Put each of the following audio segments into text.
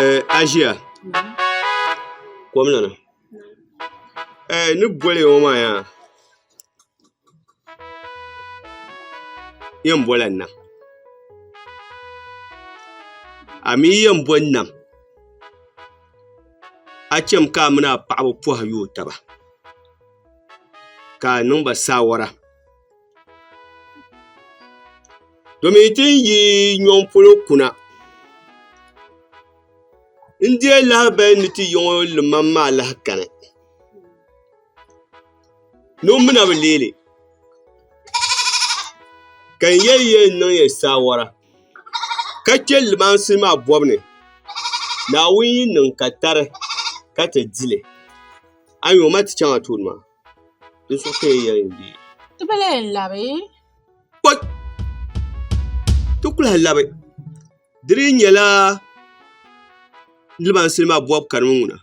Eh, Asia. Kom ni ni. Eh, ni boli ŋɔ maa yaa. Yen boli n nam a mi yen boi n nam a chem ka a mini a paɣaba pohi yuui taba ka a niŋba saawara domi tin yi nyo polo kuna n deei lahabali ni ti yi ŋɔ limaŋ maa lahi kani. ni o mina bi leeli ka n yɛli yɛli n niŋ yɛli saawara ka chɛ limaansi maa bɔbu ni Naawuni yi niŋ ka tari ka ti dili a yɛn o ma ti chaŋ a tooni maa di so ka yɛn yɛli n deei ti bi lee labi ti kuli labi di dii nyɛla limansili maa bɔbu kani mi ŋuna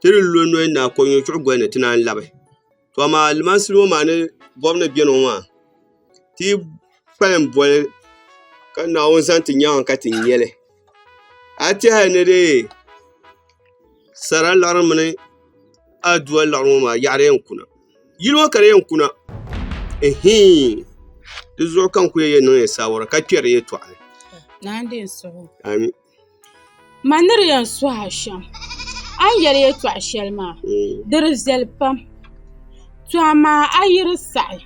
ti ni lo noya ni a kɔŋɛ chuɣu goli ni ti naan labi to amaa limansili ŋɔ maa ni bɔbu ni beni ŋɔ maa ti kpalim boli ka Naawuni zaŋ ti nyaŋ ka ti nya li a yi tɛha ni dee sara laɣiri mini adua laɣiri ŋɔ maa yaɣiri yɛn kuna. yili ŋɔ ka di yɛn kuna ɛhɛin di zuɣu ka n ku yɛn niŋ saawara ka kpɛri yɛltɔɣa ni amin ma ni di yɛn suhi a shɛm a ni yɛli yɛltɔɣa shɛli maa di di viɛli pam to amaa a yi di saɣi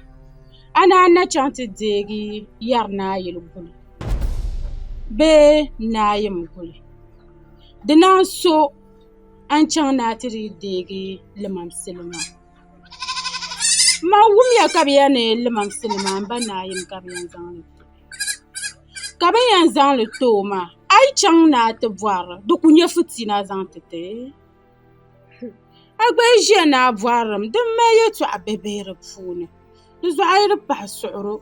a ni a ni na chɛŋ ti deegi yɛri naayili guli bee naayim guli di naan so A ni chaŋ ni a ti dii deegi limaŋsili maa man wumya ka bɛ yɛli ni limaŋsili maa m-ba naayim ka bɛ yɛn zaŋ li ti o ka bɛ ni yɛn zaŋ li ti o maa a yi chaŋ ni a ti bɔhira di kuli nyɛ fitina zaŋ ti ti a gba yi ʒiya ni a bɔhiri mi di mali yɛltɔɣ' bihibihi di puuni di zuɣu a yi di pahi suɣiro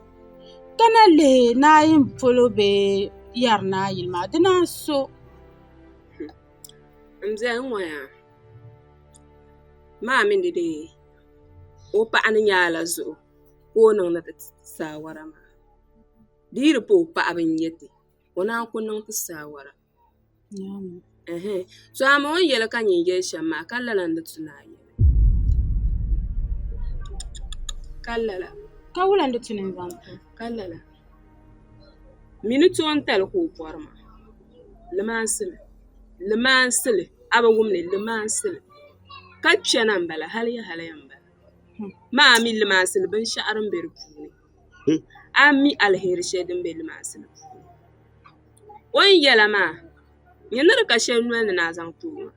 ka na lihi naayim polo bee yɛri naayili maa dina n-so n biɛni ŋo yaa maa mii ni deei o paɣa ni nyaai la zuɣu ka o niŋdi ti saawara maa di yi di pa o paɣa bin nyɛ ti o naan ku niŋ ti saawara so amoo ni yɛli ka nyin yɛli shɛm maa ka lala ni di ti naai Ka lala. Ka wula n-di ti nini zaŋ ti o? Ka lala. Mi ni toontali ka o bɔri maa. Limaansi mi. Limaansi li. A bi wum li? Limaansi li. Ka kpɛna m-bala hali ya hali ya m-bala. Maa mi limaansi li binshɛɣu din be di puuni. A mi aliheri shɛli din be limaansi li puuni. O ni yɛla maa, nyini di ka shɛli noli ni ni a zaŋ ti o maa.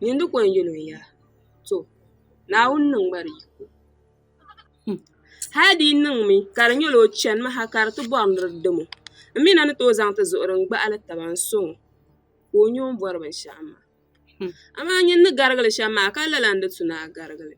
Nyin di ko n yɛl o yaa, To, Naawuni niŋ ma di yiko. Humm! Hal di yi niŋmi ka di nyɛla o chanimi ha ka di ti bɔri ni di dam o, m mi na ni tooi zaŋ ti zuɣu din gbahili taba n-sɔŋ o ka o nya o ni bɔri binshɛɣu maa. Amaa nyin ni garigi li shɛm maa, ka lala n-di tu ni a garigi li.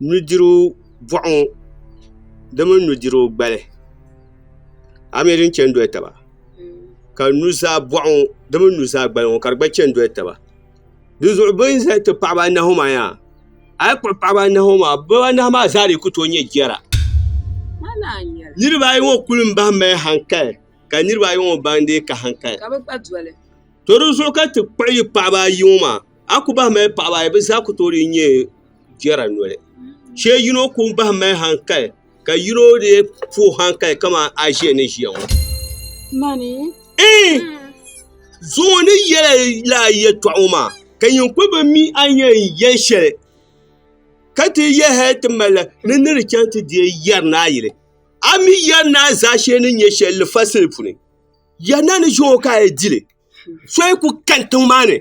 nudirigu boɣu ŋo di mini nudirigu gbali ayi nyɛ din chɛni doli taba ka nuzaa boɣu ŋo di mini nuzaa gbali ŋo ka di gba chɛni doli taba dinzuɣu bi ni ʒɛya ti paɣaba anahi ŋo maa yaa a yi kpuɣi paɣaba anahi ŋo maa bi anahi maa zaa dii ku tooi nyɛ jɛra niraba ayi ŋo kuli n bahi mali hankali ka niraba ayi ŋo ban deei ka hankali To di zuɣu ka ti kpuɣi yi paɣaba ayi ŋɔ maa, a ku bahi mali paɣaba ayi, bɛ zaa ku tooi dii nyɛ jɛra noli. Chɛ yino ku bahi mali haŋkali, ka yino dii puhi haŋkali kaman a ʒiya ni ʒiya ŋɔ. Mani? Ɛɛn! Zuŋɔ ni yɛla la a yɛtɔɣ ŋɔ maa, ka nyin kul bi mi a ni yɛn yɛli shɛli, ka ti yɛli hal ti mali la ni ni di chaŋ ti deei yɛri ni a yili. A mi yɛri ni a zaashee ni nyɛ shɛli lifasili puni. Ya na ni zuo ka a yi dili, so yi ku kani tiŋ maa ni,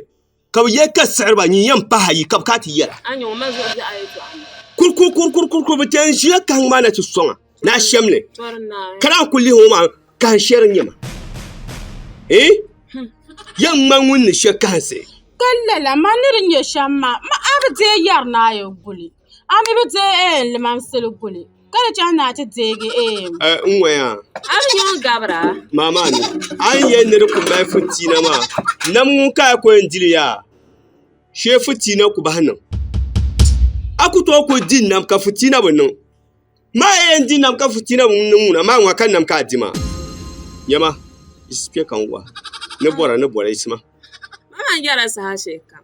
ka bɛ yɛli ka siɣiriba nyin yɛn pahi ayi, ka bɛ kana ti yɛra. Kurkurkurkurkur bɛ ti yɛn ʒiya kahi ŋ maa na ti sɔŋ a ni a shɛm li. Ka daa ku lihi ŋ maa kahin shɛri n-nyɛ ma. Ii? Yɛn ŋma ŋun ni shɛ kahinsi. Ka lala ma ni di nyɛ shɛm maa, ma a bi deei yɛri ni a yɛn guli. A ni bi deei eem limaŋsili guli, ka di chaŋ ni a ti deegi eem. A n waya. A ni nyɛ ŋun gabira. Maa maa ni, a ni yɛn ni di ku mali fitiina maa, nam ŋun ka a ku yɛn dili ya, shee fitiina ku bahi niŋ. A ku tooi kuli di nam ka fitiina bi niŋ. Maa a yɛn di nam ka fitiina bi niŋ ŋuna, maa ŋuna ka nam ka a di maa. Nyɛma, yiɣisi kpe ka n wahi, ni bɔra ni bɔra yiɣisi ma. Maa maa yɛra saha shɛli kam.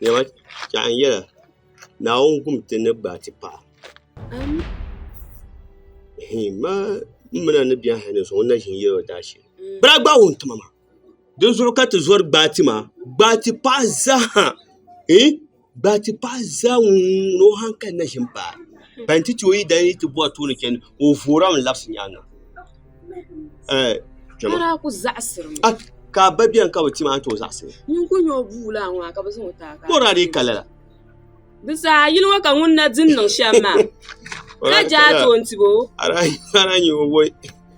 Niɛma chɛɣu n yɛla Naawuni wum ti ni gbaai ti paɣa n mi naani ni biɛhi hali niŋ sɔŋ n na ʒini yɛli o daashee bee a gbaai wuntima maa dinzuɣu ka ti zori gbaai ti maa gbaai ti paɣa zaa ha Ba ti paɣi zaa ŋun ni o hankali na ʒi m-paai, ba nti ti o yi dali ni yi ti bɔri tooni chani, ka o voora mi labisi nyaaŋa. Ka a ba beni ka bi ti ma a ni ti o zaɣisi? Bɔri a di yi ka lala? Ara n-nyɛ o voi.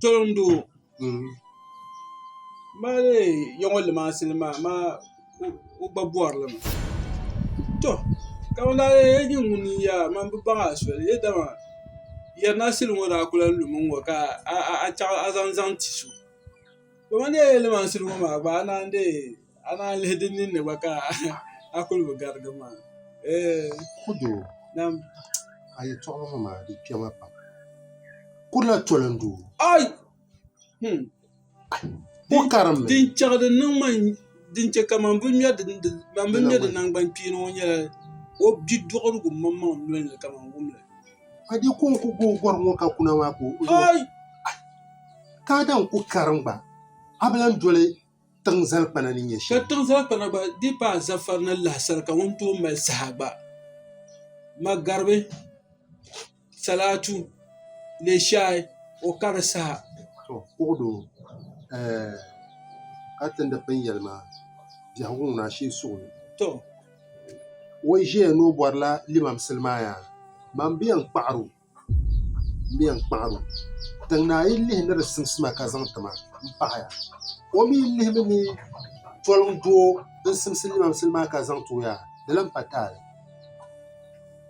Tolondo mali yaŋɔ limaasi nima amaa o gba bɔrili mi tɔ ka o lahi yɛli nyini ŋuni n yɛli a man bi baŋ a soli yɛ dama yɛrina sili ŋɔ daa ku lan lumi n ŋɔ ka a chaɣi a zaŋ zaŋ ti so dama n yɛli limansili ŋɔ maa gba a naan dee Amaa lihi di ninni gba ka a kuli bi garigi maa. Kudu nam a yi tɔɣi ma maa di kpɛma pam. Kurila toli n doo. Ai hmm ko karim mi. Din chɛɣi di niŋ ma din chɛ ka man bi ŋmɛ di man bi ŋmɛ di nangban kpeeni ŋɔ nyɛla o bi duɣirigu maŋ maŋ noli ni ka man wumli. A di ko n ku gooi gɔri ŋɔ ka kuna maa ka o. Ai ka a daa ku karim gba a bi lan doli. tiŋ zalikpana ni nyɛ shɛm. Ka tiŋ zalikpana gba dii paai zafari ni lahasari ka ŋun tooi mali saha gba magaribi salaatu leeshai o kari saha. To kuɣu doo eh, ka tindi pini yɛli maa biɛhigu ŋuna a shee suɣili. To. O yi ʒeya ni o bɔrila limam sili maa yaa, man bɛ yɛn kpaɣiri o. N bɛn kpaɣi ma, tiŋ naa yi lihi ni di simsi ma ka zaŋ ti ma, m paɣi ya. O mi lihimi ni poliŋ doo din simsi limaŋsi ni maa ka zaŋ ti o yaa, di lan pa taali.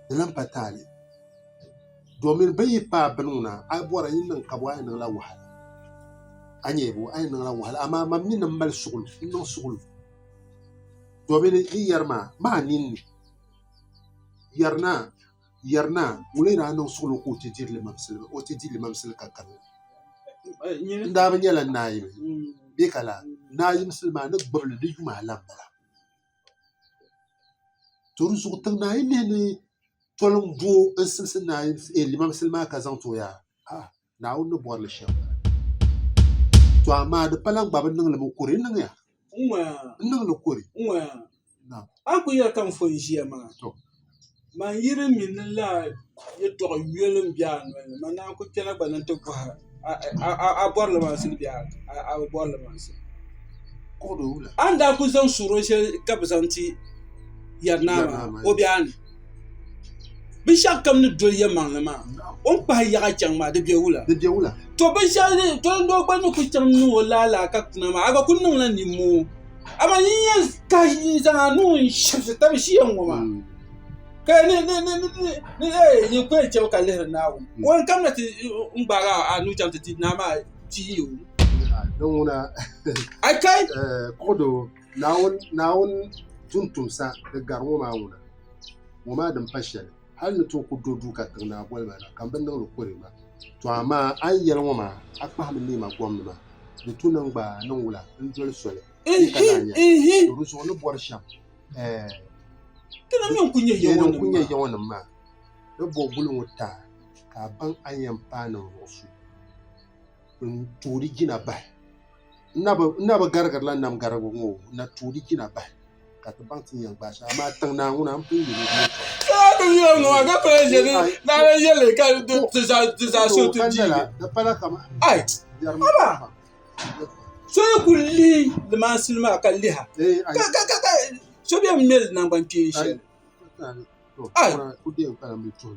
Di lan pa taali domin bɛ yi paai bini ŋuna, a yi bɔra yi ni niŋ kabɔɔ a yi niŋla wahala. A nya bɔ? A yi niŋla wahala. Amaa mam mi ni mali suɣulo, n niŋ suɣulo domin yi yɛri ma, maa ninni yɛri naa. Yɛri na, ŋuni n-daa niŋ suɣulo ka o ti diri limaŋsili, o ti di limaŋsili ka gari o? N daa bi nyɛla naayili, bee ka laa, naayimsili maa ni gbibi li di yuma alam bala. To di zuɣu tiŋ naa yi nihi ni toliŋ bo n-simsi naayimsi, ɛɛ limaŋsili maa ka zaŋ ti o yaa? Haa! Naawuni ni bɔri li shɛm bala. To amaa di pala n gba bi niŋ li mi kuri n niŋya n niŋ li kuri nam. A ku yɛli ka n fo n ʒiya maa man yiri mi ni laa yɛtɔɣ yoli n be a noli ni man naan ku kpɛna gba ni n ti bɔhi a bɔri li maŋsi bee a bi bɔri li maŋsi. A ni daa ku zaŋ suhuro shɛli ka bɛ zaŋ ti Yari Naa maa o be a ni? Binshaɣu kam ni doli yɛlimaŋli maa o ni kpahi yaɣa chɛŋ maa di bɛ wula to doo gba ni ku chɛŋ niŋ o laalaa ka kuna maa a gba ku niŋla nimmoo amaa yi ni yɛn kahi n zaŋa niŋ n shɛbisi tabi ʒiya ŋɔ maa ka di yɛn chaŋ ka lihiri Naawuni o yɛn kanna ti ni gbaagi a nuu chaŋ ti ti naa maa pii o Naawuni tuntumsa ni gari ŋɔ maa ŋuna, ŋɔ maa din pa shɛli, hal ni ti o ku do duu ka tiŋ naa boli ma na, ka m bi niŋ li kuri ma. Tɔ amaa a ni yɛli ŋɔ maa, a kpahimi neema gomnima, di tu niŋ gba a niŋ wula n-doli soli ni ka naa nya li? Tɔ di zuɣu ni bɔri shɛm, ɛɛh! Di ni n-ku nyɛ Yawɛnim maa ni bo guli ŋɔ taai ka a baŋ a ni yɛn paai ninvuɣ so n-tooi di jina bahi. N na bi garigirila nam garigu ŋɔ o, n na tooi di jina bahi, ka ti baŋ ti ni yɛn gbaai shɛli. Amaa tiŋ Naawuni, a ni pun yɛli o ni yɛtɔɣa. Zuɣu.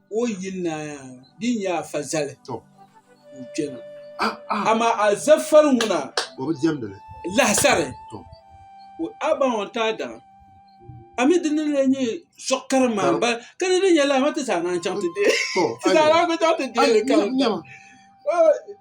O yili ni di nyɛ a fa zali n kpɛna amaa a zafari ŋuna lahasari o abaŋ n taai daŋ a mi dini n-lee nyɛ suɣ kari maa m-bala ka di ni nyɛ lahima ti zaa naai chaŋ ti deei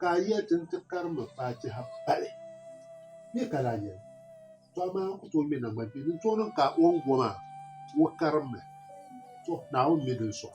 Ka a yɛli ti ni ti karimba faatiha pali bee ka lahi yɛli to amaa n ku tooi ŋmɛ naŋgbani kpee din tooi niŋ ka o ni go maa ka o karimmi to Naawuni mi din sɔŋ.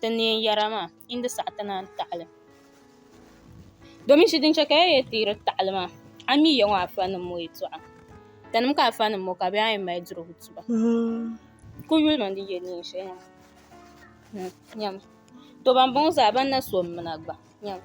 ti neen yɛra maa yi ni di saɣi ti naan taɣali domin shɛ din chɛ ka ya yɛn teeri taɣali maa a ni mi ya ŋɔ afa nim ŋɔ yɛtɔɣa tanimi ka afa nim ŋɔ ka bɛ zaa yɛn mali dirigu tuba n ku yuli mi ni di yɛ neen shɛli maa nyami tɔ ban bɔŋɔ zaa ban na so m-mina gba nyami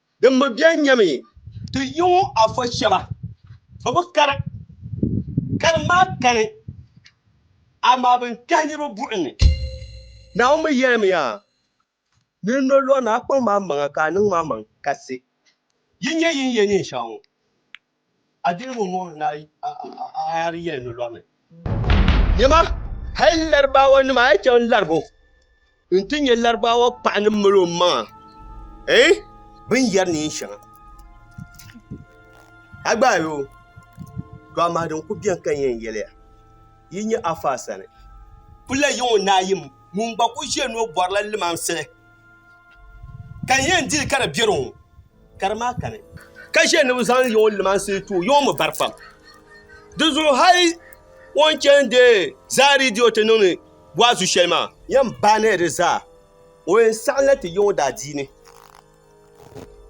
Dimma bɛn nyɛmi ti yiŋɔ afɔ shɛba, bɛ bi kari kari maa kani, amaa bɛ ni kpɛhi niriba buɣim ni. Naawuni mi yɛlimiya, Nir nolɔri ni a kpaŋ maa maŋa ka a niŋ maa maŋ kasi. Yi nyɛ yin yɛl neen shɛŋa ŋɔ, A diri ŋun ŋubiri ni a yaa di yɛli ni lɔri ni. Nyama, hal Laribaawanima a yi chaŋ laribu nti nya Laribaawa paɣa ni mal o maŋa eh bini yɛri neen shɛŋa. A gbaai o, to amaa din ku beni ka n yɛn yɛli ya, yi nya Afaa sani. Ku lahi yiŋ o naayim ŋun gba ku ʒiya ni o bɔrila limaŋsi ka n yɛn dili ka di beri o. ka di maa kani. Ka ʒe ni bɛ zaŋ Yawɛ limaansi ti o, Yawɛ mi vari pam. Di zuɣu hal o ni chani deei zaa ridio ti niŋdi waazu shɛli maa. Yɛn baaniya di zaa, o yɛn saɣimla ti Yawɛ daadiini.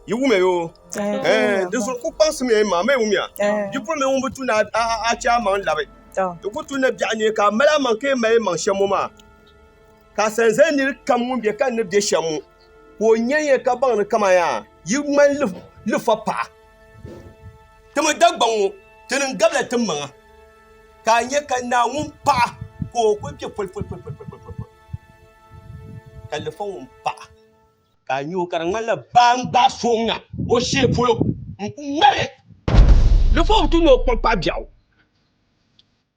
Yi wumiya yoo, ɛɛn, di zuɣu ku kpaŋsimiya yi maŋ, ma yi wumiya, bipuɣimbila ŋun bi tu ni a chɛ a maŋ labi. Ti ku tu ni biɛɣu ni ka a mali a maŋ ka yɛn mali maŋ shɛm ŋɔ maa. Ka sanzali niri kam ŋun be ka ni be shem ŋɔ ka o nya ya ka baŋ ni kaman yaa yi ŋmani lifa paɣa. Timi Dagbaŋ ŋɔ, ti niŋ gabila tim maŋa, ka a nya ka naa ŋun paɣa ka o kul kpe polipoli, ka lifa ŋun paɣa ka a nya o ka di ŋmanila baa n-gbaai so ŋ-ŋa o shee polo n-ku ŋmari li. Lifa bi tu ni o kpuɣi paɣ biɛɣu.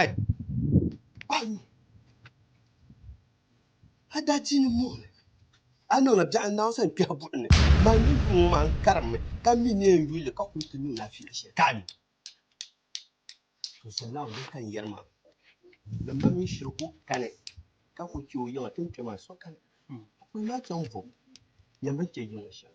Ai! A yu a daa ti yi mooi ni a niŋla biɛɣu n-naai o sani kpɛhi buɣim ni, man yi yuŋ ŋɔ maa n-karimmi ka mi ni yɛn yuli li ka kul ti niŋ laafeela shɛli ka a mi. Zuɣusaa Naawuni ka n yɛri maa, ni mam mi shiri ku kani ka ku chɛ o yiŋa ti ni kpɛ maa sokam. Kpukpuni maa chaŋ vom, nyambili chɛ yiŋa shɛm.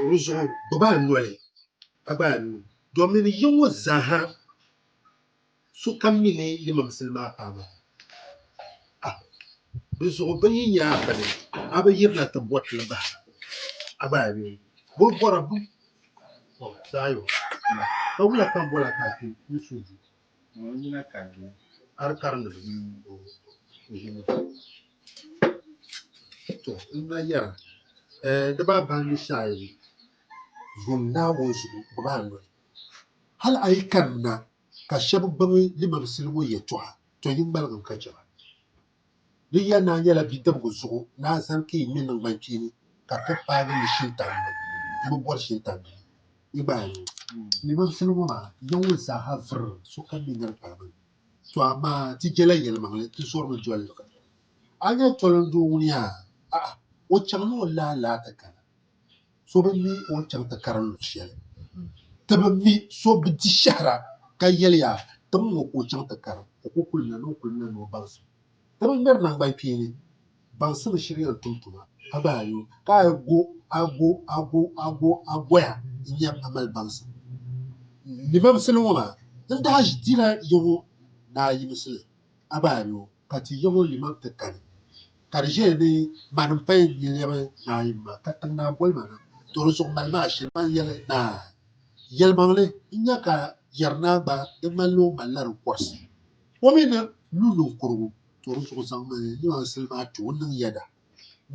O ni zuɣu gbubi a noli ka gbaai a nuu domin ni yiŋ ŋɔ zaaha sokam mi ni yi mimsili maa paam a. A Di zuɣu bɛ yi nya a bini, a bi yirina ti bɔri ti ni bahi a gbaai nuu. Bol bɔra bim? Ɔ, Zaayon, ka wula ka bol a ka a kpe n-suui du? Ŋuni n-nyɛ nakarimba? Hali karimdiba mini o ʒiɛhi maa. Tɔ! M ba yɛra, Ɛɛh, di ba ban yi shɛhi yi yom Naawuni zuɣu gbibi a noli. Hali a yi karim na ka shɛba gbibi limansili ŋɔ yɛtɔɣa, tɔ yi ŋmaligim ka chɛ ba. Di ya naa nyɛla bidibgu zuɣu ni a zani ka yi ŋme niŋgban kpeeni ka ti paagi yi shintani ni. N bi bɔri shintani bee? Yi gba a nya ni mam sani ŋɔ maa, yiŋmi zaaha viri sokam ni nir paai bini. Tɔ amaa ti jela yelimaŋli, ti zɔrimi doli li. A nya tɔlindoo ŋun yaa? A'a, o chaŋla o lahi laati kana. So bi mi o ni chaŋ ti karim luɣ shɛli. Ti bi mi so bi di shɛhira ka yɛliya, Tim ŋɔ ka o chaŋ ti karim, o ku kulina ni o kulina ni o baŋsim. Ti bi ŋmɛri naŋgbankpeeni baŋsim ni shiri yɛn tum tuma, a gba a yo, ka a go a go a go a go a goya n-nya a mali baŋsim. Limaŋsili ŋɔ maa n-daa dila yiŋɔ naa yimisi li. A ba ayo ka ti yabo yimaŋ ti kani, ka di ʒiya ni mani m-paya n-yi lɛbi naa yimma, ka tiŋ naa boli ma na, tɔ di zuɣu mali ma ashili ma yɛli naa, Yɛlimaŋli n-nya ka yɛri naa gba di ŋmanila o malila di kɔrisi, o mi ni lu niŋkurigu, tɔ di zuɣu zaŋmi yimaŋsili maa ti o niŋ yɛda.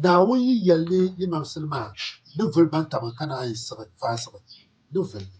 Naawuni yi yɛli ni yimaŋsili maa ni vuli baŋ ka man ka naa yi siɣi faasiɣi ni vuli ni.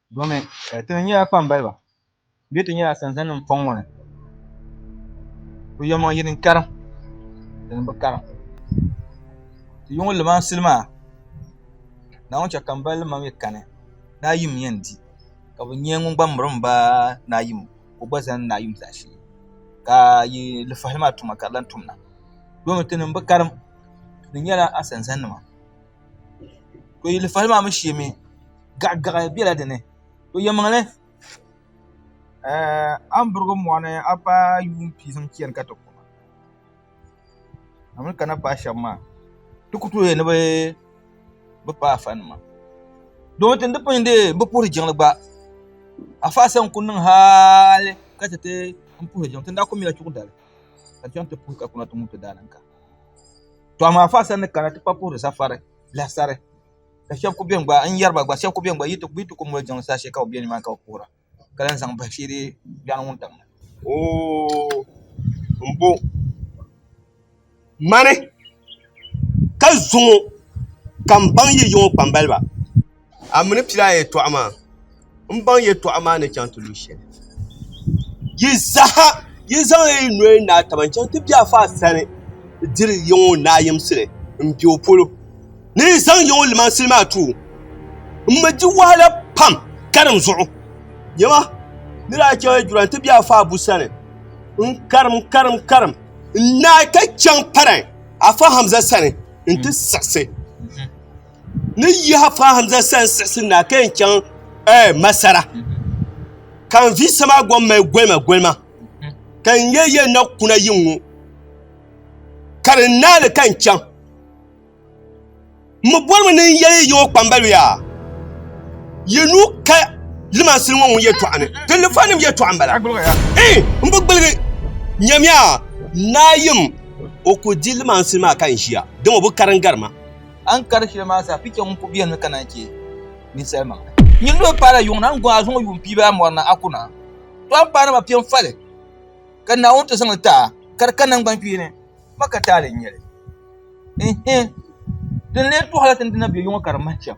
Domin eh, ti ni nyɛla kpambaliba bee ti nyɛla sanzannim fɔŋ ŋɔ ni ku yɛlimaŋ yini n-karim din bi karim ti yuŋ limansili maa Naawuni chɛ ka m-ba lima mi kani Naayim yɛn di ka bɛ nyɛ ŋun gba miri m-ba Naayim ka o gba zani Naayim zaashee ka yi lifahili maa tuma ka di lan tumna domin ti ni bi karim ti ni nyɛla a sanzannima. to yilifali maa mi shee mi gaɣigaɣi bela dini to yɛlimaŋli a ni birigi mɔɣuni a paai yuun pia zaŋ chani ka ti ku a mi ni kana paai shɛba maa ti ku tooi ni bɛ paai afa nima doo tin di pun deei bi puhiri jiŋli gba afa Asa n-ku niŋ hali ka chɛ ti puhi jiŋli tin daa ku mila chuɣu dali ka di chaŋ ti puhi ka kuna ti ŋubiti daadam kam. to amaa fa sani kana ti pa puhiri safari lahisari ka shɛba ku bɛni gba n yɛri ba gba shɛba ku bɛni gba yi ti ku moli jiŋli saha ka bi bɛ ni maa ni ka bi puhira ka lahi zaŋ bahi shee dee biɛni ŋun tam ni. Oo n bo mani ka zuŋo ka n baŋ yi yiŋo kpambaliba. a mi ni pili a yɛtɔɣa maa n baŋ yɛtɔɣa maa ni chaŋ ti lu shɛli yi saha yi zaŋla yi noli n naai taba n chaŋ ti bɛ afa sani n diri yiŋɔ naayimsili n bɛ o polo ni yi zaŋ yiŋɔ limansili maa tuui n mi di wahala pam karim zuɣu nyɛma ni daa chaŋ yɛdura n ti bɛ afa abu sani n karim karim karim n naai ka chaŋ paran afa hamza sani n ti siɣisi ni n yihi a paai Hamza sani siɣisi na ka yɛn chaŋ Masara, ka n vi sama gom mali golimagolimma, ka n nya ya na kuna yiŋ ŋɔ, ka di naali ka n chaŋ. M mi bolimi ni n yɛli yiŋɔ kpambaliba yaa, yi nuu ka limansili ŋɔ ŋun yɛtɔɣa ni, di lifanim yɛtɔɣa m-bala. Ii! M bi gbuligi, nyamiya! Naayim! O ku di limansili maa ka n ʒiya, dama o bi karim gari ma. A ni kari shɛli maa sa, picha ŋun ku beni ni ka naan chɛ ninsalimaŋli. Nyin ni o paai la yuŋ na n-gɔŋ a zuŋɔ yuun piiba a mɔri na, a ku na tɔɣim paai nama piɛm fali, ka Naawuni ti zaŋ li ti a ka di ka naŋgbankpee ni ma ka taali n-nyɛ li. Ɛnhɛ! Di ni lee tɔɣila ti ni di na be yuŋ ka di mahi shɛm.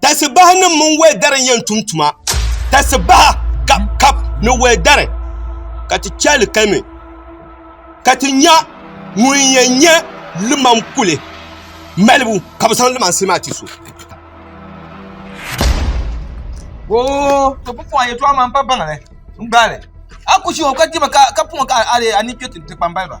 Tasibaha nim mini wɛdari n-yɛn tum tuma. Tasibaha kap ni wɛdari ka ti chɛ li kalimi ka ti nya ŋun yɛn nyɛ limam kuli malibu ka bɛ zaŋ limansi maa ti so. Oo, to bi pɔŋ a yɛtɔɣa maa m-pa baŋ ni n-gbaai li. A ku ʒi o ka dima ka puŋ ka a leei a ni kpe ti kpambaliba.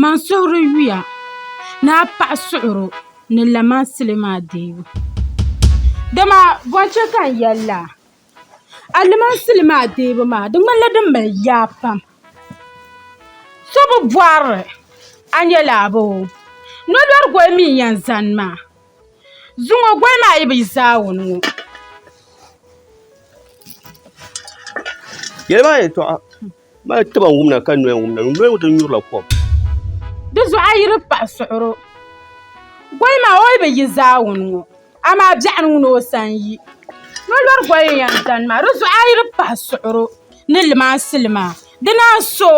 Man suhuri yuya ni a paɣa suɣuro ni lamansili maa deebu dama bɔn chɛ ka n yɛli la alimansili maa deebu maa di ŋmanila din mali yaa pam so bi bɔrili a nya laa bɛ o nolɔrigoli mi n-yɛn zani maa zuŋɔ goli maa yi bi zaawuni ŋɔ Mali taba n wumna ka noya n wumna, noya ŋɔ ti nyurila kom. Di zuɣu a yi di paɣi suɣuro, gɔyi maa o yi bi yi zaawuni ŋɔ, amaa biɛɣu ni ŋuna o sani yi. Nolɔri gɔyi n-yɛn zani maa, di zuɣu a yi di paɣi suɣuro ni limansili maa, di naan so,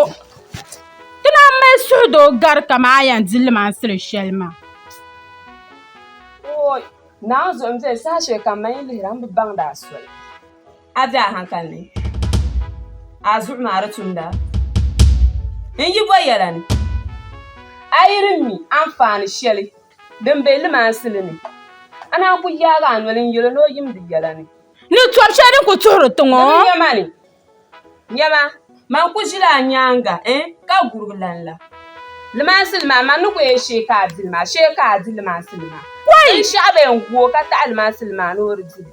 ti naan mali suhudoo gari kaman a yɛn di limansili shɛli maa. A bɛ a hankali ni a zuɣu maa di tumda n yi bɔ yɛla ni a yi di mi anfaani shɛli din be limansili ni a naan ku yaagi a noli n-yɛl o ni o yimdi yɛla ni. Ni tɔb shɛli din ku tuhiri tiŋ o. Di mi nyama ni, Nyama, man ku ʒila a nyaaŋa n, ka gurigi lan la. Limansili maa, man ni ku yɛn shee ka a di li maa, shee ka a di limansili maa. Binshɛɣu bɛn gu o ka taɣi limansili maa ni o di li.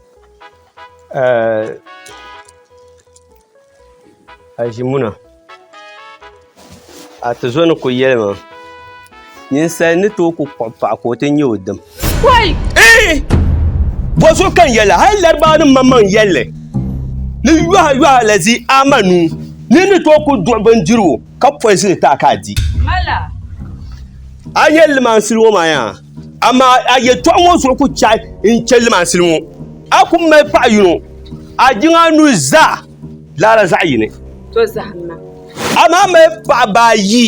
Azimuna Atizo ni ku yɛli maa ninsal ni tooi ku kpuɣi paɣa ka o ti nyɛ o dim bɔ so kan yɛli hal laribaanim maŋmaŋ yɛlli ni yɔha yɔha la zi ama nuu ni ni tooi ku duɣi bindirigu ka pɔizini ti a ka a di a yɛlli maa n-sili o maa yaa Amaa a yɛtɔɣa ŋɔ zuɣu ku chɛhi n chɛ limansili ŋɔ, a ku mali paɣ yino, a jiŋ a nuhi zaa lala zaɣ yini. Amaa mali paɣiba ayi.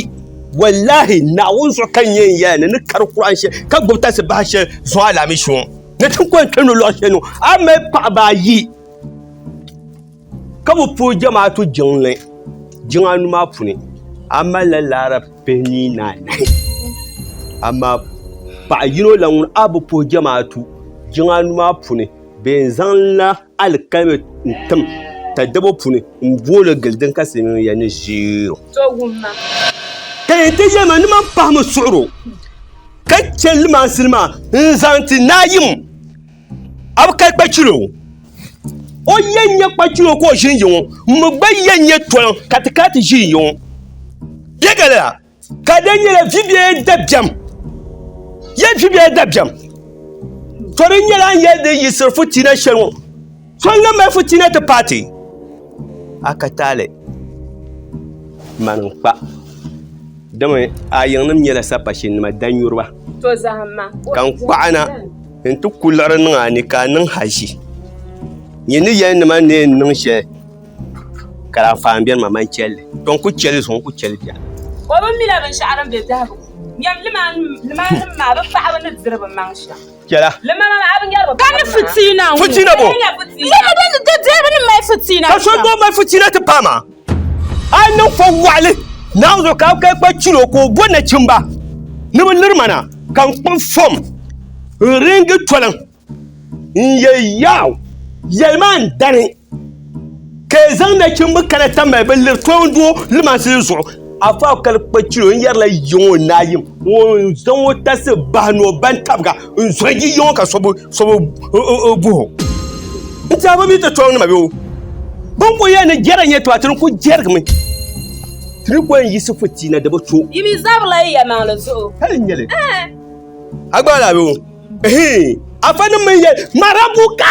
Wallaahi, Naawuni zuɣu ka n yɛn yɛli ni ni kari kurahi shɛli ka gbibi talisi bahi shɛli zuŋɔ alaamishi ŋɔ ni ti kɔŋ kpɛmdi luɣ shɛli ni ŋɔ, a mali paɣiba ayi. Ka bi puhi jamaatu jiŋli jiŋanu maa puuni, a malila laara pihini ni anahi. Amaa paɣ yino la ŋun a bi puhi jamaatu jiŋanu maa puuni bee n-zaŋla alikalimi n-tim tadabo puuni m-booli gili din ka silimiiŋya ni ʒiir o. Ka yɛn ti yɛli ma ni man pahimi suɣir o, ka chɛ limansili maa n-zaŋ ti naayim. A bi kali kpachilo ŋɔ. O yɛn nyɛ kpachilo ka o ʒini yiŋɔ. N mi gba yɛn nyɛ toliŋ ka ti kana ti ʒini yiŋɔ. Yɛ galila ka di nyɛla vibiɛya dabiɛm. Yɛ vibiɛya dabiɛm. To di nyɛla n yɛli di yi siri futiina shɛli ŋɔ. Solina malifu ti na ti paai ti a ka taali mani n-kpa. Dama a yiŋnim nyɛla sapashinnima danyuriba, ka n kɔɣina nti ku liɣiri niŋ a ni ka a niŋ haʒi. Nyin ni yɛli nima ni n niŋ shɛli, ka di anfaani beni ma, man chɛli li. Tɔ! N ku chɛ li zuɣu, n ku chɛ li biɛɣu. O bi mila binshɛɣu din be biɛhigu nyam limaannim maa bɛ paɣibu ni diri bɛ maŋ shɛm. Chɛla. Ka ni fitiina ŋɔ. Fitiina bo. Lala din ni da dɛriba ni mali fitiina shɛm. Ka so gba mali fitiina ti pahi maa. A yi niŋ fɔ waɣili Naawuni zuɣu ka ka kpa chiri o ka o bo nachimba ni bɛ liri ma na ka n kpuɣi fɔm n-ringi toliŋ n-yɛli Yawɛ, yɛli ma n dani. Ka e zaŋ nachimba kana ta mali bɛ liri toondoo limansi zuɣu. Afa Akali kpa chili o ni yɛrila yiŋɔ naayim ŋɔ n-zaŋ o tasi bahi ni o baŋ tabiga n-zɔri yi yiŋɔ ka so bi guhi o. N tɛha bɛ mi ti tɔri nima bee? Bɛ ni kul yɛli ni jɛra n-nyɛ tɔha ti ni kul jɛrigimi. Ti ni kul yiɣisi fu ti na di bi to. Yi mi zabirila yi yɛlimaŋli zuɣu. Hali n-nyɛli. Ɛɛh! A gbaai laa bee? Ɛhiin! Afa nim mi yɛli, Marabuka!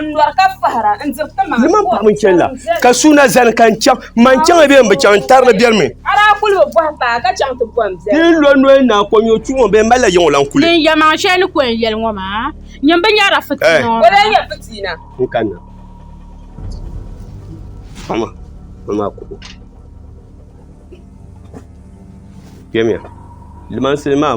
Ni man paɣa mini chɛnla ka suuna zani ka n chaŋ man chaŋ bɛ n bi chaŋ n tarili biɛri mi. Ti ni lo noya naa ko nyɔ tumo bɛ n malila yiŋo lan kuli. Din ya maŋ shɛli ni ko n yɛli ŋo maa nyini bi nyɛrila fitina o maa. N kanna. Paɣa maa maa kuɣu. Kpɛmiya limansili maa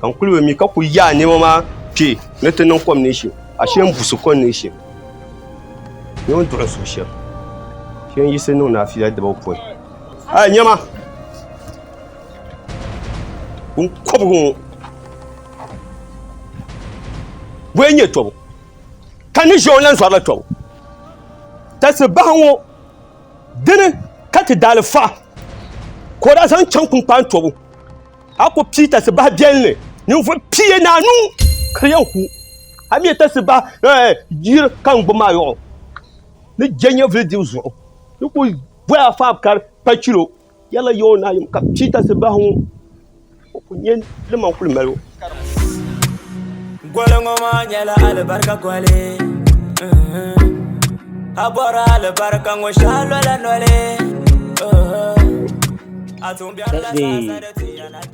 ka n kuli be mi ka kuli yaai niɛma maa kpe ni ti niŋ kom neeshi ashe n busi kom neeshi ni o duɣi suhu shɛm shee n yiɣisi niŋ naafila dibu pɔi a niɛma n kɔbigu ŋɔ bɔi n nyɛ tɔbu ka ni ʒiɛw lan zɔrila tɔbu tasi bahi ŋɔ dini ka ti daali faɣa ka o daa zaŋ chaŋ kunkpaan tɔbu A ku pii tasi bahi biɛlli ninvuɣ pia ni anu ka di yɛn ku. A mi tasi bahi eh, yiri ka n gbubi maa yɔɣu ni je nyɛvili dibu zuɣu. N ku bɔhi a faab ka di kpa chilo, yɛla ya o ni a yim ka pii tasi bahi ŋɔ, o ku nya li man kuli mali o. Goli ŋɔ maa nyɛla alibarika goli. A bɔri alibarika ŋɔ shɛhi lola noli.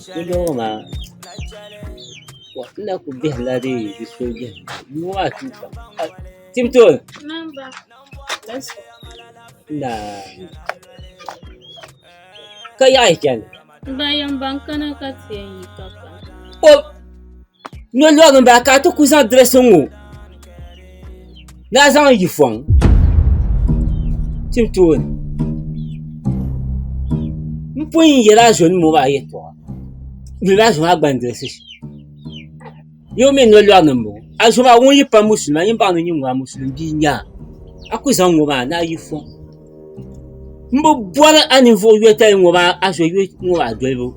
Sooja ŋɔ maa n na kuli bihila di sooja nima ŋɔ maa tuuta tim tooni naa ka yaha yi chana. Nyɔ lɔg n bala ka ti ku zaŋ dirɛsi ŋɔ na zaŋ yi fɔŋ tim tooni n pun yɛla azo nim ŋɔ maa yɛltɔɣa n yuli azo maa gba ni dirɛsi shɛm yoo mi nɔ lɔg ni n bɔŋɔ azo maa ŋun yi pa musulima yin baŋ ni nyin ŋɔ a musulim bia n nyɛ a a ku zaŋ ŋɔ maa ni a yi fɔŋ n bi bɔri a ninvuɣ yotali ŋɔ maa azoyu ŋɔ maa dolibu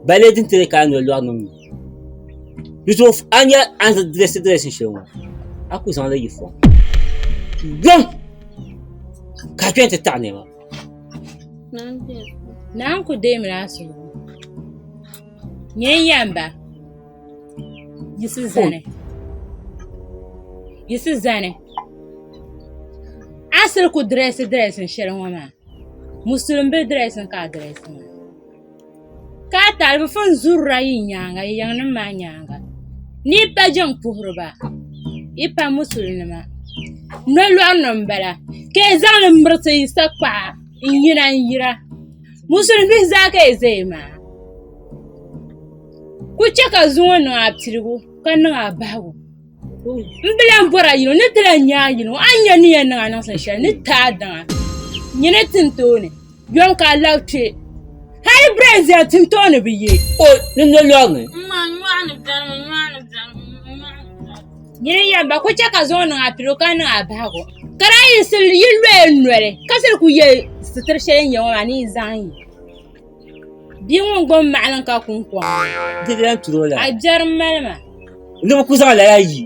balee din ti ni ka a noli lɔri niŋ mi di zuɣu a ni yɛli a ni dirɛsi dirɛsin shɛli ŋɔ a kuli zaŋ li yi fɔŋ gbam ka a chani ti taɣi nɛma naa n-kuli deemi ni a suhudoo nyɛ n-yɛm ba Yisi zani. Yisi zani. Asiri ku dirɛsi dirɛsi shɛli ŋɔ maa. Musulim bili dirɛsi ka a dirɛsi maa. Ka a talibifu n-zurira yi nyaaŋa yi yiŋnim maa nyaaŋa ni yi pa jiŋ puhiri ba yi pa musulinima. Nolɔri ni m-bala ka yi zaŋ li mirisi yi sakpaɣa n-yina n-yira. Musulim bihi zaa ka yi zaya maa. Ku chɛ ka zuŋ o niŋ a piligu ka niŋ a bahigu n bi lahi bɔri a yino ni ti lahi nya a yino a ni yɛn ni yɛn niŋ a niŋsim shɛli ni ti a daŋ a nyini tin tooni yom ka a lahi kpɛ hali birɛn viɛl tin tooni bi ye. O ni lo lɔg ni. Nyini yɛm ba ku chɛ ka zuŋ o niŋ a piligu ka niŋ a bahigu ka daa yiɣisiri yi lɔya noli ka siri ku ye sitiri shɛli yi ni yɛ ŋɔ maa ni yi zaŋ ye. Bia ŋun gbom maɣilim ka kun kom. Didira turo la. A jɛri mali ma. Ni bi ku zaŋ lala yi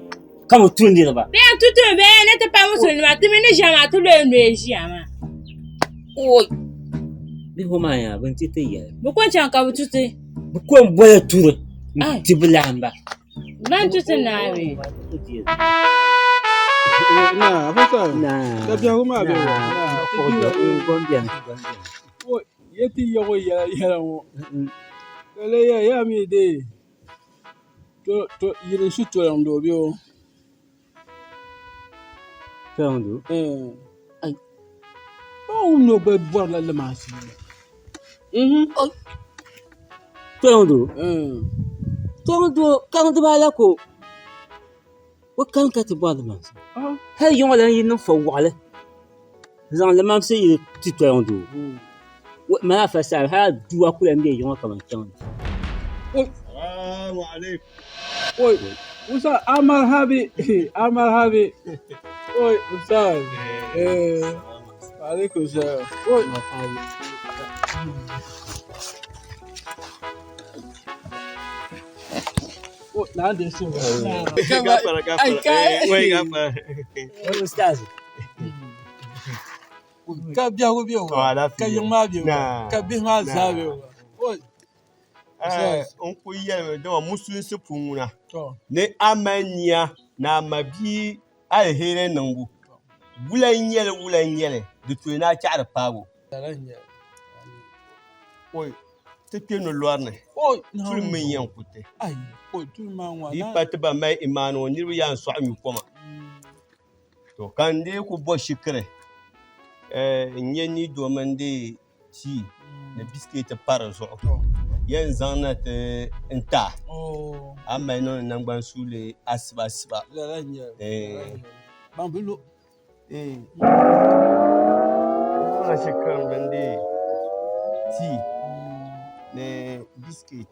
ka bi tu niriba. Bɛ yɛn tu tu bɛ ni ti pa musulima ti mi ni ʒiya maa ti lo n lo ʒiya maa. Oi. Bi ho maa yaa bin ti ti yɛli. Bi ko n chaŋ ka bi tu ti. Bi ko n boli turi. Ti bi lahi ba. Ban tu ti naa bɛ. Naa, bi sɔn. Naa. Ka biɛhu maa bɛ. Naa, ko bɛ. Ko bɛ. Ko bɛ. Ye ti yago yɛla yɛla ŋɔ ka leeya yaa mi dee to to yili shi tɔliŋ do bɛ o tɔliŋ do ɛɛ ai paɣa ŋun nɔ gba bɔri la lima asiri tɔliŋ do tɔliŋ do kaŋ dibaa la ko O kani ka ti bɔri limaamsi hali yiŋɔ lan yi niŋ fɔwaɣili n-zaŋ limaamsi yili ti tɔliŋ doo o mali afa saha hali a dua ku lan be yiŋɔ kaman kpiɔŋ ni. Oh, now they so. I can't. Ustaz. Ka biɛhigu be o, ka yiŋ maa be o, ka bihi maa zaa be o. Oh, N ku yɛlimi dama musulinsi puŋuna ni a mali nia ni a ma bia Aliheri niŋbu wula n-nyɛli wula n-nyɛli di tooi ni a chɛɣiri paago. Oi, ti kpe no lɔri ni, tuli mi n-yɛn ku ti. Di pa ti ban mali imaani ŋɔ niriba yaa n-sɔɣi nyu koma. To, ka n dee ku bɔ shikiri n-nyɛ ni do mini di tii ni biskit pa di zuɣu yɛn zaŋ na ti n ta a mali niŋdi nangbani suuli asiba asiba tii ni biskit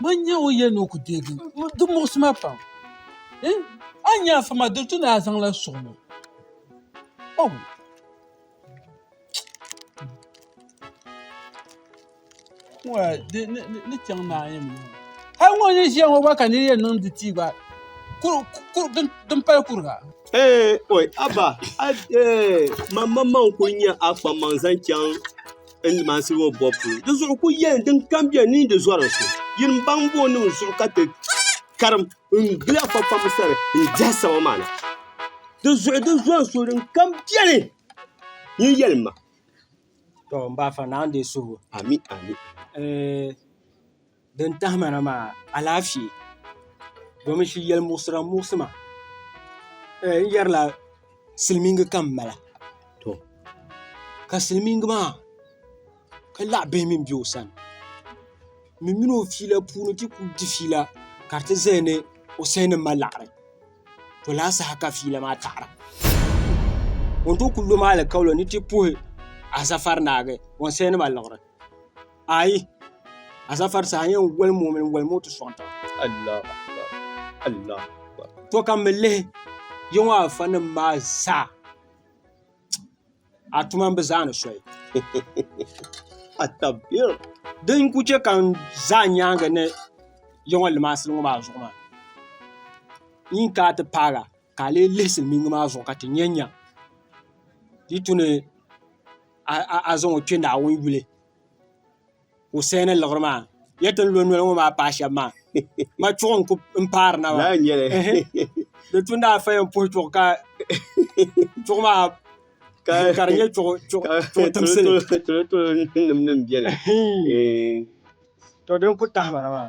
Mo n-nyɛ o yɛn ni o ku deegi di muɣisi ma pam. A ni nya afa maa di ti ni a zaŋla suɣ ŋɔ. Oh! Wai di ni chaŋ naa yɛn mi. Hali ŋɔ ni ʒiya ŋɔ gba ka niri yɛn niŋ di tii gba din pali kuriga. Ee, oi, Abba, a ee, mam mam man ku nya a kpammaŋ zaŋ chaŋ. n maasiri o bobu polo di zuɣu ku yɛli din kam biɛni ni di zɔri so yin n baŋ bo niŋ zuɣu ka ti karim n gili afa kpamba sani n diɛhi sama maa na di zuɣu di zɔri so din kam biɛni ni yɛli ma to n ba afa naa n dee suhu ami ami Din tahima na maa alaafee domi shi yɛli muɣisira muɣisima n yɛrila silmiingi ka n mala ka silmiingi maa ka laɣa bihi mii bɛ o sani ŋun mini o fiila puuni ti ku di fiila ka di ti ʒɛya ni o sal ni ma laɣari to laa saha ka fiila maa taɣara o ni tooi ku lo maa alikauli ni ti puhi Azafari naagi o ni sal ni ma liɣiri Ayi azafari saa yɛn wali moo mini wali moo ti sɔŋ taba Allah akbar Allah akbar to ka mi lihi yɛŋɔ afa nim maa zaa a tuma n bi zaa ni sɔyi atabir din ku chɛ ka n zaa nyaanga ni yɛŋɔ limaasili ŋɔ maa zuɣu maa yin ka ti paaga ka a lee lihi silmiingi maa zuɣu ka ti nyɛ nya di tu ni a zaŋ o kpɛ naawuni yuli ka o saya ni liɣiri maa n yɛn ti ni lo noli ŋɔ maa paai shɛba maa ma chuɣu n ku paari na maa di tu ni daa faya n puhi chuɣu ka chuɣu maa ka di nyɛ chuɣu timsili to din ku tahimana maa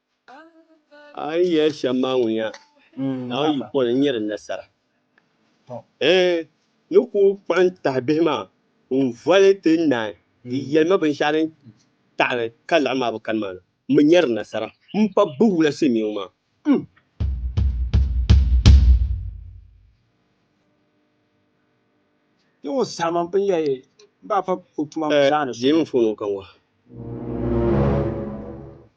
A yi yɛli shɛm maa ŋuniya, Naawuni yi pɔli n-nyɛ di nasara. Ɛɛn, ni ku kpuɣi n tahi bihi maa n-voli ti naai, di yɛli ma binshɛɣu din taɣiri ka laɣim maa bi kani maa na, m bi nyɛ di nasara m-pa bɛ wula silimiiŋ maa. Ɛɛn, deemi n fooni ŋɔ ka n wahi.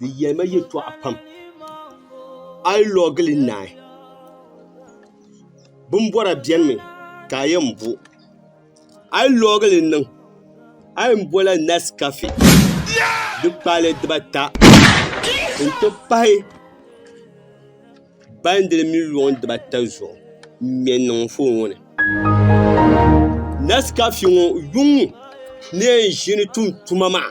Di yɛlima yɛtɔɣa pam a yi lɔgi li naai bimbɔra beni mi ka a yɛn bo a yi lɔgi li niŋ a yɛn bola nɛskafe di kpaale diba ata n-ti pahi baandiri mini luŋ diba ata zuɣu m-ŋme n-niŋ n foon ŋɔ ni nɛskafe ŋɔ yuŋ ni yɛn ʒini tum tuma maa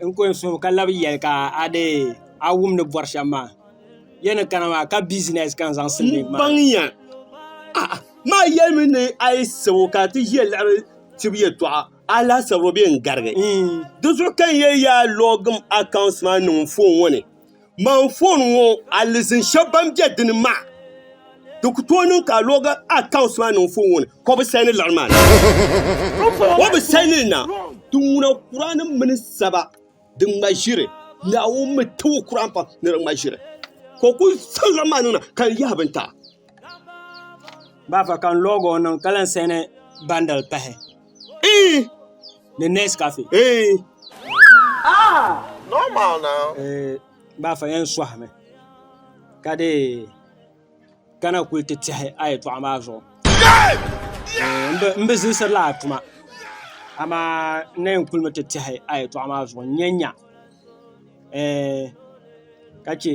N ko n suhu ka labi yɛli ka a dii a wum ni bɔri shɛm maa. Ya ni kana maa ka bizinɛs ka n zaŋ silimiin maa. N baŋya. A'a maa yɛlimi ni a yi sabo ka ti ʒiya laɣiri tibu yɛtɔɣa a laasabu bee n garigi. Di zuɣu ka n yɛli ya a lɔgim akawunti maa niŋ n foon ŋɔ ni. Ma anfooni ŋɔ alizin shɛba ban be dini maa, di ku tooi niŋ ka a log accounts maa niŋ foon ŋɔ ni ka o bi saini liɣiri maa na. Di ŋuna Kurani mini saba di ŋma ʒiri Naawuni mi ti o Kurani pam ni di ŋma ʒiri. Ka o ku zaŋ liɣiri maa niŋ na ka n yahi bintaɣ. Baafa ka n lɔg o niŋ ka lan sɛni bandal pahi ni nes kafe baafa yɛn sɔhimi ka dee kana kuli ti tɛhi a yɛtɔɣa maa zuɣu n bi zilisiri la a tuma amaa n na yɛn kuli mi ti tɛhi a yɛtɔɣa maa zuɣu n nya nya ka chɛ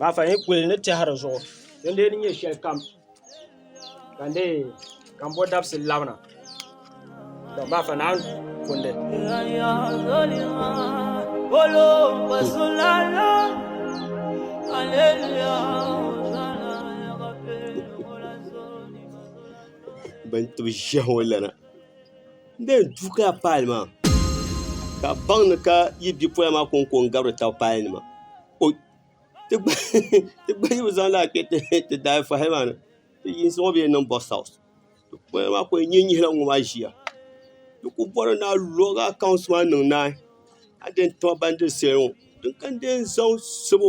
maa fa yi kuli ni tɛhiri zuɣu din dee ni nyɛ shɛli kam ka n dee ka n bo dabisi labina to maa fa naan kundi bɛn tibi ʒiɛhi ŋɔ lana N bee duu ka a paali maa ka a baŋ ni ka yi bipola maa ko n ko n gabiri tab paali nima o ti gba yi bi zaŋ laa kpɛ ti daai fahi maa ni ti yinsi ŋɔ bee niŋ bɔs haws bipola maa ku yɛn nyih nyihila ŋɔ maa ʒiya di ku bɔri ni a lɔg akawunt maa niŋ naai a di yɛn tiba ban diri seli ŋɔ din kani deei n zaŋ sabo.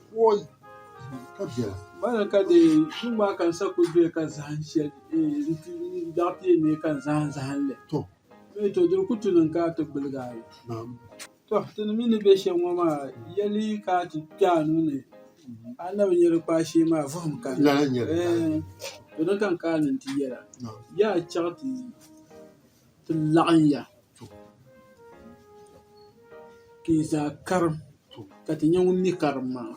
Bala ka di yɛn niŋ maa ka n sa ku doya ka zaham shɛli n zaŋ ti yɛn nyɛ ka n zaham zaham li to dini ku niŋ ka a ti gbuligi a li to ti mii ni bɛ shɛm ŋɔ maa yɛli ka a ti kpɛ a nuuni a ni na bi nyɛ di kpaa shee maa vuhum ka di ni ti laɣim ya ka yi zaa karim ka ti nya ŋun mi karim maa.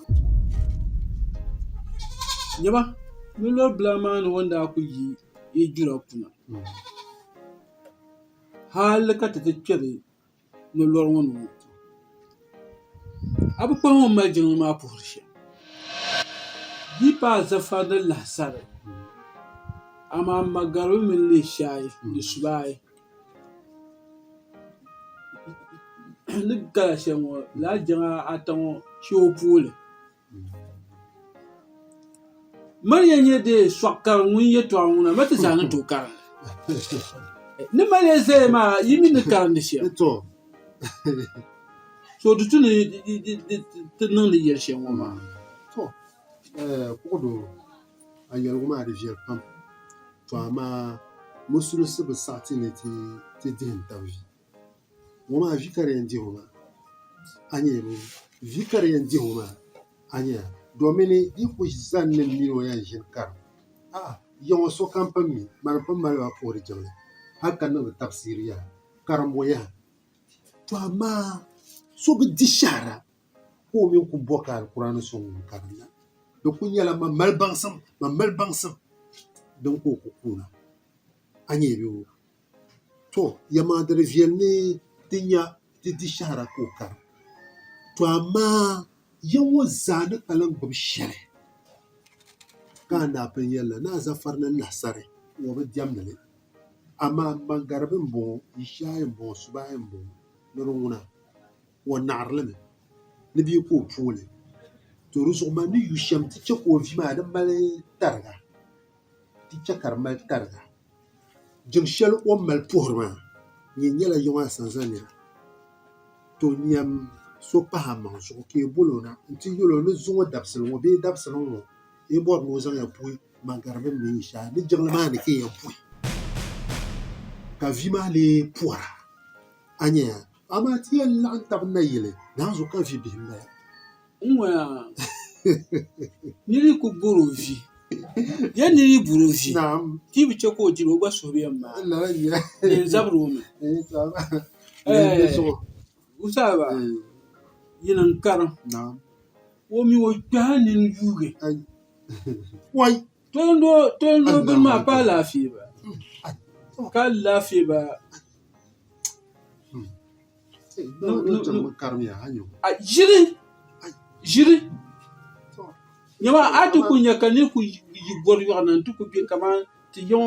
Nyaba, nolɔri bila maa ni o ni daa kul yi yi jura kuna, hal ka ti ti kpɛri. ni lɔri ŋɔ ni ŋɔ a bi kpaŋ o ni mali jiŋli maa puhiri shɛm b yi paai zafa ni lahisari amaa magaribi mini leeshaayi ni subaayi ni gala shɛli ŋɔ lala jiŋa ata ŋɔ chɛ o pooli Maliya nyɛ dee sɔɣ kari ŋun yɛtɔɣa ŋuna ma ti zaa ni tooi karinli. Ni Maliya zaya maa yi mi ni karindi shɛm. So di tu ni ti niŋdi yɛli shɛm ŋɔ maa. To kuɣu do a yɛligu maa di viɛli pam to amaa musulisi bi saɣiti ni ti dihim tabili. Ŋɔ maa vi ka di yɛn di ŋɔ maa a nyɛ mi vi ka di yɛn di ŋɔ maa a nyɛ domin yi ku zani ni mini o yɛn ʒini karim a'a ya ŋɔ sokam pun mi mani pun mali ba puhiri jiŋli hali ka niŋdi tabisiri yaha karimbu yaha to amaa so bi di shɛhira ka o mini ku bɔ ka Alkur'aani so ŋun karim la di ku nyɛla man mali baŋsim man mali baŋsim din ka o ku kuuna a nyɛ bi o To, yɛlimaŋli di di viɛli ni di nya di di shɛhira ka o kari. To amaa ya ŋɔ zaa ni ka lan gbibi shɛli ka a daa pun yɛli la, ni a zafari ni lahasari ŋɔ bi diɛmdi li. Amaa Mangaribi m-bɔŋɔ, Yishaayi m-bɔŋɔ, Subaayi m-bɔŋɔ ni di ŋuna, o naɣiri li mi ni bɛ yi ku o pooli. To di zuɣu man ni yu shɛm ti chɛ ka o vi maa di mali tariga, ti chɛ ka di mali tariga. Jin shɛli o ni mali puhiri maa nyɛ nyɛla yiŋa asanza nira. To nyam so pahi amaŋ zuɣu ka yi bol o na nti yɛl o ni zuŋ o dabisili ŋɔ bee dabisili ŋɔ yi bɔri ni o zaŋ ya puhi Magari bɛn mi yi shɛhi ni jiŋli maa ni ka yi yɛn puhi ka vi maa lee puhira a nya ya. Amaa ti yɛn laɣim tab nayili, naanzu ka vi bihi m-bala. N waya niri ku bɔr o vi. Yɛn niri yi bɔr o vi, ti yi bi chɛ ka o diri, o gba suhu bi yɛn maai. Di yɛn zabiri o mi. Ɛɛh! Wuntaŋa, yini n-karim. O mi o kpɛhi nini yuugi. Wai! Tolini o bini maa ka alaafee ba ka alaafee ba ʒiri ʒiri nyama a ti ku nya ka niri ku yi bɔri yɔɣu na n ti ku bɛ kamani ti yiŋ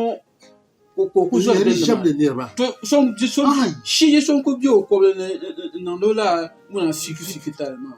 ka o ku zɔri bini nima to so n bɛ so shee so n ku bɛ o kobili ni n niŋdi o lala ŋuna fiifi fiifi tali maa.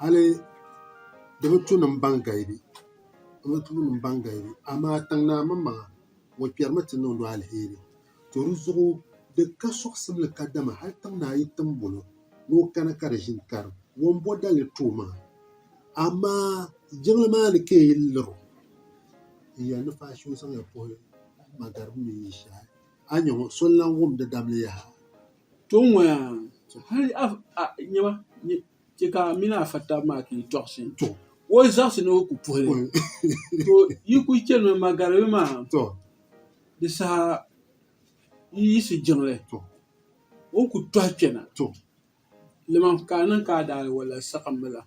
hali di bi tu nim ban galibi di bi tu nim ban galibi amaa tiŋ naa mini maŋa ŋɔ kpɛrimi ti niŋdu alheri to di zuɣu di ka soɣisibili kadama hali tiŋ naa yi tim bolo ni o kana ka di ʒini karim ŋɔ m-bo dali tooi maa amaa jiŋli maa ni ka yi liri o n yɛli ni faashee o zaŋya puhi magariba mini ishaai a nya ŋɔ so n-lan wumdi dabili yaha To n ŋɔya to hali nyɛma chɛ ka a mini a fa tabi maa ti yi tɔɣisi o zaɣisi ni o ku puhi li to yi kuli chani mi Magaribi maa di saha yi yiɣisi jiŋli o ni ku tɔhi kpɛna ka a niŋ ka a daali wala saɣim mi la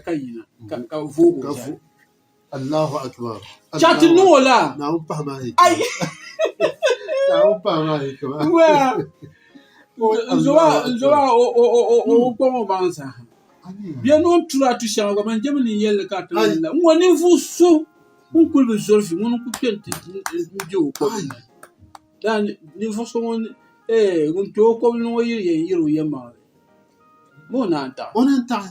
ka yina ka voogi o zali. Chati niŋ o la. Nzoba o kɔŋ o baŋ sa. Bia ni o turi atu shɛŋa gba man jɛmi ni yɛlli ka ti la. N ŋɔ ninvuɣu so ŋun kuli bi zoli fi ŋuni n kuli kpɛni ti bɛ o kɔbili ni. Daa ninvuɣu so ŋun kpɛ o kɔbili ni ŋɔ yiri yɛn yɛri o yɛlimaŋli. Bɛ o naan taɣi.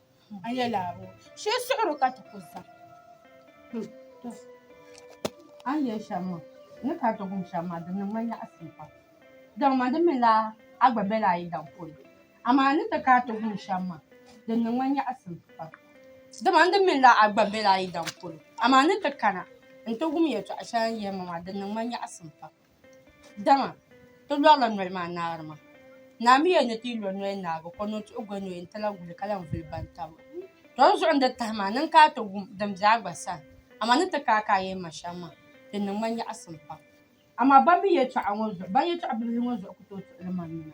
N yɛli a bɔ shee suɣuri ka ti ku zaŋ a ni yɛli shɛm maa ni ka ti gum shɛm maa di niŋ ma nyaɣasim pam daŋ ma di minila a gba bɛla a yidana polo amaa a ni ti kana ti gum shɛm maa di niŋ ma nyaɣasim pam dama n di minila a gba bɛla a yidana polo amaa a ni ti kana n ti gum yɛltɔɣa shɛli a ni yɛli ma maa di niŋ ma nyaɣasim pam Dama ti lɔrila noli maa naari maa, naa mi yɛn ni ti yi lo noli naagi o, ka o niŋ ti o goli ni o yɛn ti lahi guli ka lahi vuli bantabiga. Tɔri zuɣu n-di tahi maa, niŋ ka a ti wum din be a gba sani, amaa ni ti kai ka a yɛn ma shɛm maa, di niŋ ma nyaɣisim pam. Amaa ban mi yɛtɔɣa ŋɔ zuɣu, ban yɛtɔɣ' bibihi ŋɔ zuɣu ku tooi tuɣili ma nima.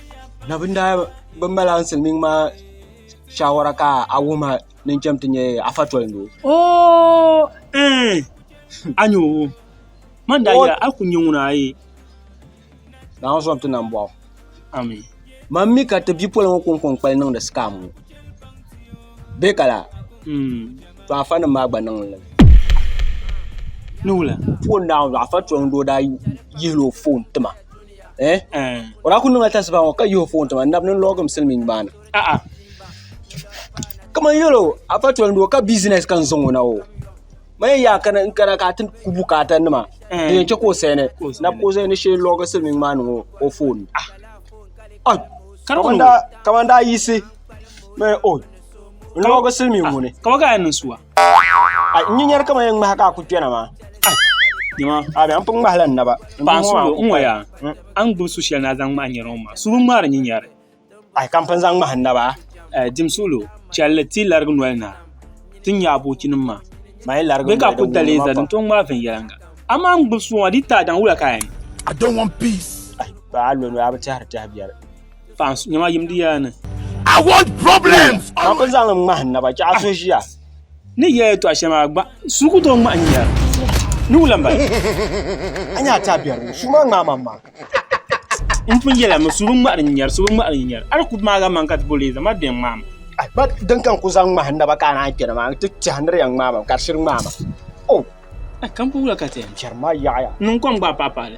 na bin daa bi mala n silmiŋ maa shawara ka a wuhima ni chɛm ti nyɛ afa tolindo o eh a nyɛ o man daa yɛra a ku nyɛ ŋuna a ye daa n sɔŋ ti nam bɔɣu ami man mi ka ti bipoli ŋɔ kɔŋkɔŋ kpali niŋdi sikam ŋɔ bɛ kala mm. to afa nim maa gba niŋ li ni wula foon daa afa tolindo daa yihila o foon tima O daa kuli niŋla tasibahi ŋɔ ka yihi o foon tiŋa nab ni n log n silmiin maa ni a'a kamani yɛlo afa toli doo ka bizinɛs ka n zaŋ o na o mani n yaa kana n kana ka a ti ku bukaata nima di yɛn chɛ ka o sɛni nab ka o zaŋ ni shee loogi silmiin maa ni o foon kamani daa yiɣisi ni o loogi silmiin ŋɔ ni n nyɛnyɛri kama yɛn ŋmahi ka a ku kpɛna maa a bɛ n pun ŋmahila n naba paɣa sulo n ŋɔya a ni gbubi su shɛli ni a zaŋ ŋmahi nyɛri ŋɔ maa sulu ŋmaari nyɛnyɛri ayi ka n pun zaŋ ŋmahi n naba dim sulo chɛlli ti larigi noli na ti nya aboochi nim maa bɛ ka ku dali zali n tom ŋmaai viɛnyɛliŋga amaa n gbubi suwa di taadaŋ wula ka a yɛn I don't want peace. Ba a lo a bi tɛhiri tɛha biɛri. I want problems. Ka bi zaŋ ŋmahi naba ka a so ʒiya. Ni yɛya tɔɣa shɛm a gba suu ku tooi ŋmahi n-yɛra ni wula m-bala. A nya a ti a biɛri suu maa ŋmahi man maa. N pun yɛla mi suu bi ŋmahiri n-yɛri suu bi ŋmahiri n-yɛri a di ku maa gari man ka ti bo leei zaŋ ma bɛn ŋmahi ma. A gba din ka n ku zaŋ ŋmahi naba ka a naan kpɛna maa n ti tɛha ni di yɛn ŋmahi ma ka di shiri ŋmahi ma. Oh. Ka n ku wula ka ti yɛn. Biɛri maa yaɣiya. Niŋ kom gba a paɣi paɣi li.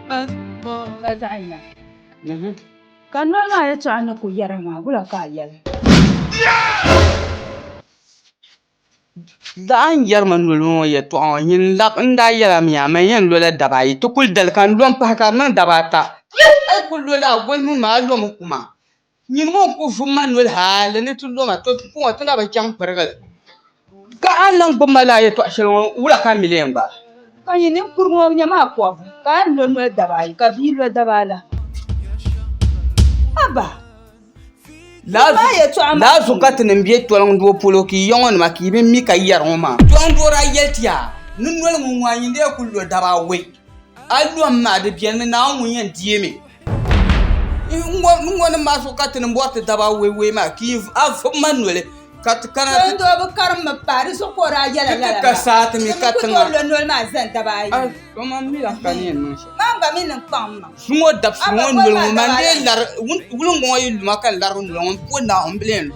Ka zaɣ yina. Ka noli maa yɛtɔɣa ni ku yɛra maa, wula ka a yɛli? Daa n-yɛrimi noli ŋɔ yɛtɔɣa ŋɔ, nyin lab n daa yɛla mi a, man yɛn lola daba ayi, ti kul dali ka n lo m-pahi ka di niŋ daba ata. Yi kul lola a goli mini ma, a lomi kuma. Nyini ŋɔ n-kul vum ma noli hal ni ti lo ma, tɔbu ŋɔ ti na bi chaŋ pirigi li. Ka a ni lan gbibi ma lala yɛtɔɣ shɛli ŋɔ, wula ka n mi leei n gbaai? Ka yi nini kur ŋɔ nya maa pɔbu, ka a ni lo noli daba ayi, ka bia lo daba ala. Haba! Lala maa yɛtɔɣ maa. Lala zuɣu ka ti ni be toliŋdoo polo ka yi yɔŋɔnima ka yi bi mi ka yi yɛri ŋɔ maa. Toliŋdoo daa yɛli ti yaa, Ni noli ŋun ŋɔ a nyin lee kul lo daba awɛi. A lom ma, di beni mi, Naawuni ŋun yɛn deei mi. ŋɔ ni maa zuɣu ka ti ni bɔri ti daba awɔi wɔi maa ka a vuɣi ma noli ka ti kana ti ti ka saa ti mi ka tiŋa su ŋɔ dabisi ŋɔ noli ŋɔ man dee lari wulingi ŋɔ yi luma ka n lari n noli ŋɔ m puhi Naawuni m bi lee lo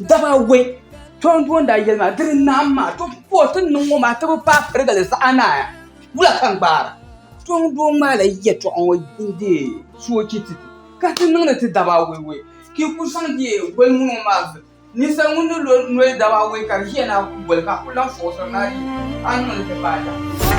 Daba we, tɔndi o ni daa yɛli maa, diri naam maa, to pa o ti ni niŋ o maa ti bi paai pirigali zaɣ anaaya, wula ka n gbaara? Tɔndi o ŋmaa la yɛtɔɣa ŋɔ n-deei soochi ti ti, ka ti niŋdi ti daba we we, ka yi ku zaŋ deei goli mini o maa zuɣu. Ninsal ŋun ni lo noli daba we ka di ʒiya ni a ku goli ka a ku lahi fɔɣisiri ni a di, a ni niŋdi ti paai daɣu.